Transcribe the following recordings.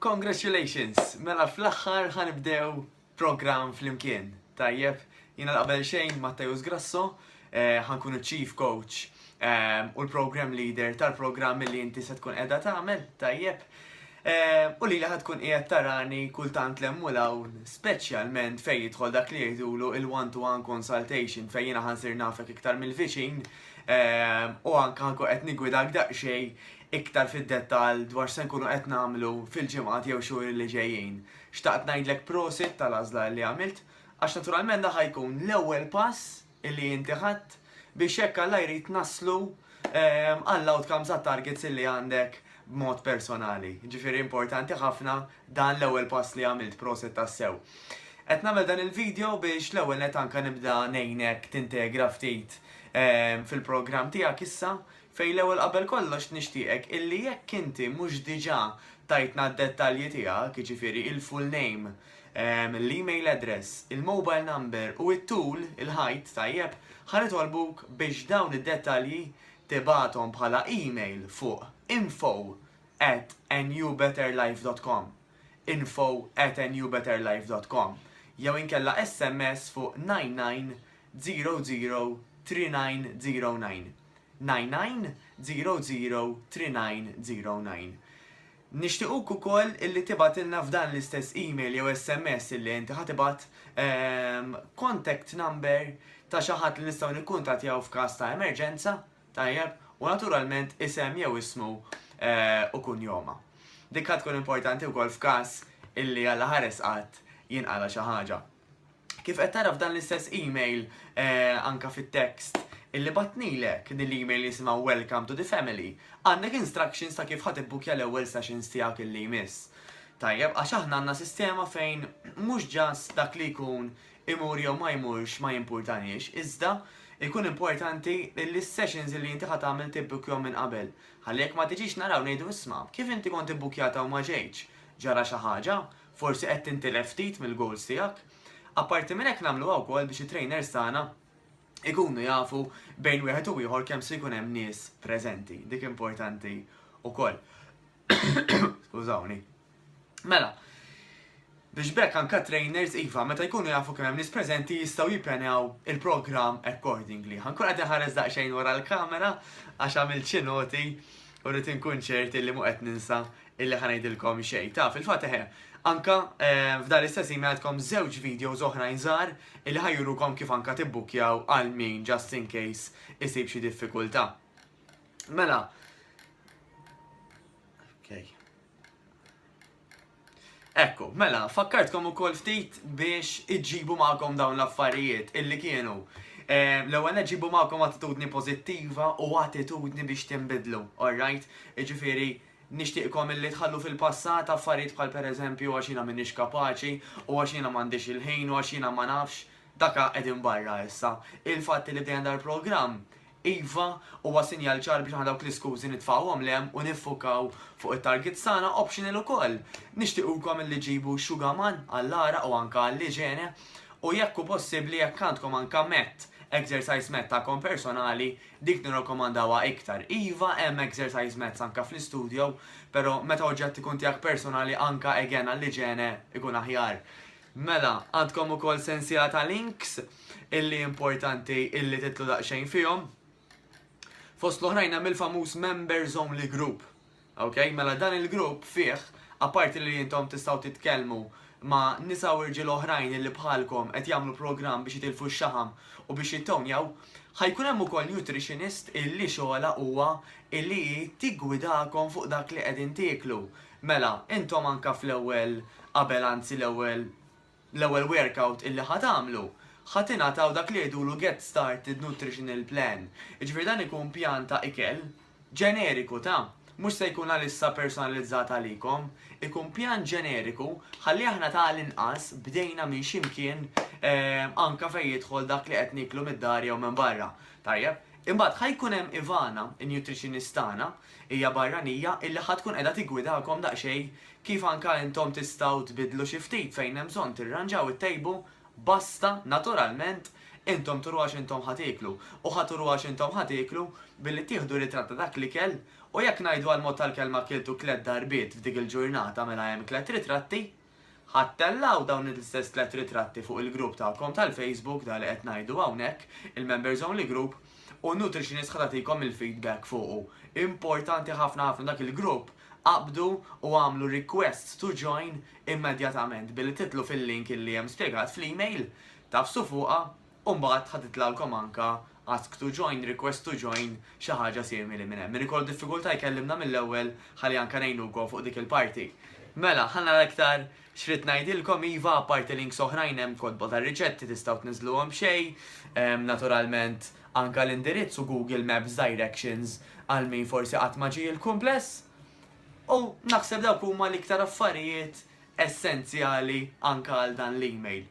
Congratulations! Mela fl-aħħar ħanibdew programm flimkien. Tajjeb, jiena l-qabel xejn Matteus Grasso, eh, ħankun chief coach eh, u l-program leader tal-programm li inti se tkun qiegħda tagħmel, tajjeb. Eh, u li laħat tkun qiegħed tarani kultant lemmu l-hawn, speċjalment fejn jidħol dak li jgħidulu il-one-to-one consultation fejn jiena ħansir nafek iktar mill-viċin u anke ħanku qed nigwidak daqsxejn iktar fid-dettall dwar x'se nkunu qed nagħmlu fil-ġimgħat jew xhur li ġejjin. Xtaqt ngħidlek prosit tal-għażla li għamilt għax naturalment dan ħa jkun l-ewwel pass li inti ħadt biex hekk Alla jrid naslu ehm, għall-outcomes għat-targets li għandek b'mod personali. Ġifieri importanti ħafna dan l-ewwel pass li għamilt prosit tassew. Qed nagħmel dan il-video biex l-ewwel net anka nibda ngħinek tintegra ftit ehm, fil-programm tiegħek issa Fej l-ewwel qabel kollox nixtieqek illi jekk inti mhux diġà tajtna d-dettalji tiegħek, jiġifieri il-full name, l-email address, il-mobile number u t-tul, il-height, tajjeb, ħa nitolbuk biex dawn id-dettalji tibgħathom bħala email fuq info at anewbetterlife.com, info at anewbetterlife.com, jew inkella sms fuq 99003909. 99003909. Nixtiequk ukoll illi tibgħatilna f'dan l-istess email jew SMS illi inti ħa tibgħat contact number ta' xi ħadd li nistgħu nikkuntattjaw f'każ ta' emerġenza, tajjeb, u naturalment isem jew ismu u kunjoma. Dik ħa tkun importanti wkoll f'każ illi Alla ħares qatt jinqala' xi ħaġa. Kif qed tara f'dan l-istess email anka fit-text illi batnilek din l-email jisimha Welcome to the Family, għandek instructions ta' kif ħa tibbukkja l-ewwel sessions tiegħek illi jmiss. Tajjeb, għax aħna għandna sistema fejn mhux ġast dak li jkun imur jew ma jmurx ma jimpurtaniex, iżda jkun importanti li s-sessions li inti ħat tagħmel tibbukkjhom minn qabel. Ħalli jekk ma tiġix naraw ngħidu isma' kif inti kont ibbukkjata u ma ġejtx? Ġara xi ħaġa? Forsi qed tintilef ftit mill-goals tiegħek. Apparti minn hekk nagħmluha wkoll biex it-trainers tagħna ikunu jafu bejn wieħed u ieħor kemm se jkun hemm nies preżenti. Dik importanti wkoll. Skużawni. Mela, biex bekk anka trainers iva meta jkunu jafu kemm hemm nies preżenti jistgħu jippjanaw il-programm accordingly. Ħankun qed inħares daqsxejn wara l-kamera għax għamil xi noti u rrid inkun ċerti li mu qed ninsa illi ħa ngħidilkom xejn ta' fil-fatt eħe. Anka f'dan l-istess email għandkom żewġ videos oħrajn żgħar illi ħa jurukom kif anka tibbukjaw għal min just in case isib xi diffikultà. Mela, Ekku, mela, fakkartkom u kol ftit biex iġibu ma'kom dawn l-affarijiet illi kienu. Eh, l-ewwel ġibu ma'kom attitudni pożittiva u attitudni biex timbidlu, alright? Iġifiri, Nixtieqkom illi tħallu fil-passat affarijiet bħal pereżempju għax jiena m'iniex kapaċi u għax jiena m'għandix il-ħin u għax jiena ma nafx, dak qegħdin barra issa. Il-fatt illi bdejna dal-programm, iva, huwa sinjal ċar biex aħna dawk l-iskużi nitfgħuhom 'l hemm u niffukaw fuq it-targets tagħna, optional ukoll. Nixtiequkom illi ġġibu xugaman għall-għaraq u anke għall-iġene u jekk hu possibbli jekk għandkom anke mat, exercise mat tagħkom personali, Dik nirrakkomandawha iktar. Iva hemm exercise mats anke fl-istudio, pero meta oġġett ikun tiegħek personali anke again għall-iġene ikun aħjar. Mela, għandkom ukoll sensiela ta' links illi importanti illi titlu daqsxejn fihom. Fost l-oħrajn hemm il-famuż members only group. Ok, mela dan il-grupp fih, apparti li intom tistgħu titkellmu ma' nisa u rġiel oħrajn illi bħalkom qed jagħmlu programm biex jitilfu x-xaħam u biex jittownjaw, ħa jkun hemm ukoll nutritionist illi xogħolha huwa illi hi tiggwidakom fuq dak li qegħdin tieklu. Mela, intom anke fl-ewwel, qabel anzi l-ewwel Bl-ewwel workout illi ħa tagħmlu, ħa tingħataw dak li jgħidulu Get Started Nutritional Plan, jiġifieri dan ikun pjan ta' ikel ġeneriku ta', mhux se jkun għalissa personalizzat għalikom, ikun pjan ġeneriku ħalli aħna ta' l-inqas bdejna minn xi mkien anke fejn jidħol dak li qed nieklu mid-dar jew minn barra. Tajjeb. Imbagħad ħa jkun hemm Ivana, in-nutritionist tagħna, hija barranija illi ħa tkun qiegħda tiggwidakom daqsxejn kif anke intom tistgħu tbiddlu xi ftit fejn hemm bżonn tirranġaw ittejbu, basta, naturalment, intom turu għax intom ħa tieklu, u ħa turu għax intom ħa tieklu billi tieħdu ritratt ta' dak l-ikel, u jekk ngħidu għall-mod tal-kelma kiltu tliet darbiet f'dik il-ġurnata mela hemm tliet ritratti, ħa ttellgħu dawn l-istess tliet ritratti fuq il-grupp tagħkom tal-Facebook, dak li qed ngħidu hawnhekk, il-Members Only Group, u n-nutritionist ħa tagħtikom il-feedback fuqu. Importanti ħafna ħafna dak il-grupp Qabdu u agħmlu request to join immedjatament billi tidħlu fil-link li hemm spjegat fl-email, tagħfsu fuqha u mbagħad ħa titlgħalkom anke ask to join, request to join, xi ħaġa simili minn hemm. Min ikollu diffikultà jkellimna mill-ewwel ħalli anke ngħinukom fuq dik il-parti. Mela, ħa nara iktar X'ridt ngħidilkom iva apparti links oħrajn hemm kotba ta' riċetti tistgħu tniżżluhom b'xejn, naturalment anke l-indirizz u Google Maps directions għal min forsi qatt ma ġie il-kumpless. U naħseb dawk huma l-iktar affarijiet essenzjali anke għal dan l-email.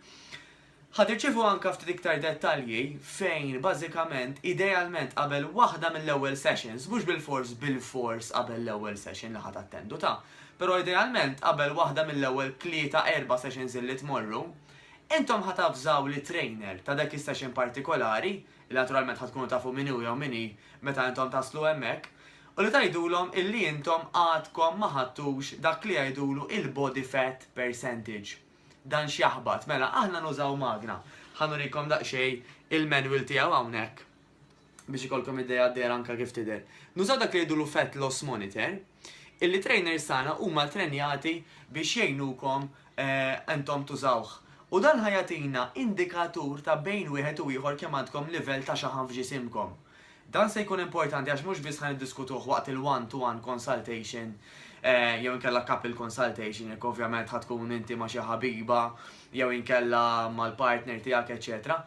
Ħa tirċievu anke ftit iktar dettalji fejn bażikament, idealment qabel waħda mill-ewwel sessions, mhux bilfors bilfors qabel l-ewwel session li ħa tattendu ta', però idealment qabel waħda mill-ewwel tlieta, erba' sessions illi tmorru, intom ħa tavżaw lit-trainer ta' dak is-session partikolari, illi naturalment ħa tkunu tafu min hu jew min hi meta intom taslu hemmhekk, u li tgħidulhom illi intom għadkom ma ħadtux dak li jgħidulu il-body fat percentage. Dan x'jaħbat? Mela aħna nużaw magna. Ħa nurikom daqsxejn il-manual tiegħu hawnhekk biex ikolkom idea dejra anka kif tidher. Nużaw dak li jgħidulu fat loss monitor, illi trainers tagħna huma trenjati biex jgħinukom intom tużawh. U dan ħa jagħtina indikatur ta' bejn wieħed u ieħor kemm għandkom livell ta' xaħam f'ġisimkom. Dan se jkun importanti għax mhux biss ħa niddiskutuh waqt il-one to one consultation jew inkella couple consultation jekk ovvjament ħa tkun inti ma' xi ħabiba jew inkella mal-partner tiegħek eċetera.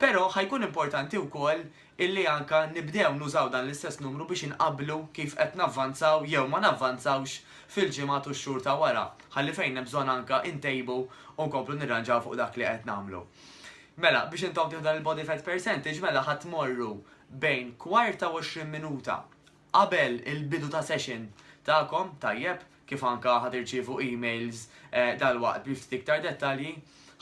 Però ħa jkun importanti wkoll illi anka nibdew nużaw dan l-istess numru biex inqabblu kif qed navvanzaw jew ma navvanzawx fil-ġimgħat u x-xhur ta' wara, ħalli fejn hemm bżonn anka ntejbu u nkomplu nirranġaw fuq dak li qed nagħmlu. Mela, biex intom tieħdu dan il-body fat percentage mela ħa tmorru bejn kwarta u 20 minuta qabel il-bidu ta' session tagħkom, tajjeb, kif anka ħa tirċievu emails dalwaqt bi ftit iktar dettalji,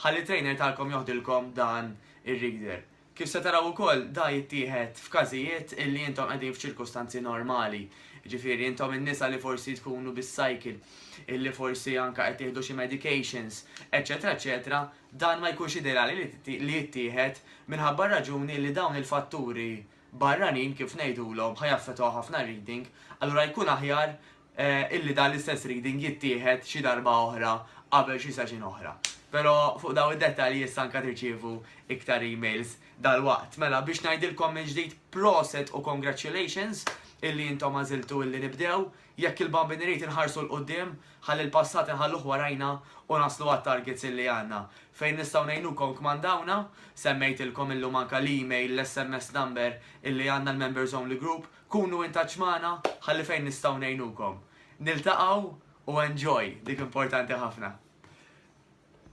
ħalli trainer tagħkom joħdilkom dan ir-reader. Kif se taraw ukoll da jittieħed f'każijiet illi intom qegħdin f'ċirkustanzi normali, jiġifieri intom in-nisa li forsi tkunu bis-cycle, illi forsi anka qed tieħdu xi medications, eċċetera eċċetera, Dan ma jkunx ideali li jittieħed minħabba r-raġuni li dawn il-fatturi barranin, kif ngħidulhom, ħa jaffettwaw ħafna reading, allura jkun aħjar illi dan l-istess reading jittieħed xi darba oħra qabel xi session oħra. Però fuq dawn id-dettalji issa anke tirċievu iktar emails dalwaqt. Mela biex ngħidilkom mill-ġdid proset u congratulations illi intom għażiltu illi nibdew Jekk il-bambin irid inħarsu 'l quddiem, ħalli l-passat inħalluh warajna u naslu għat-targets illi għandna. Fejn nistgħu ngħinukom kmandawna, semmejtilkom illum anke l-email, l-SMS number illi għandna l-members only group, kunu in touch magħna ħalli fejn nistgħu ngħinukom. Niltaqgħu u enjoy, dik importanti ħafna.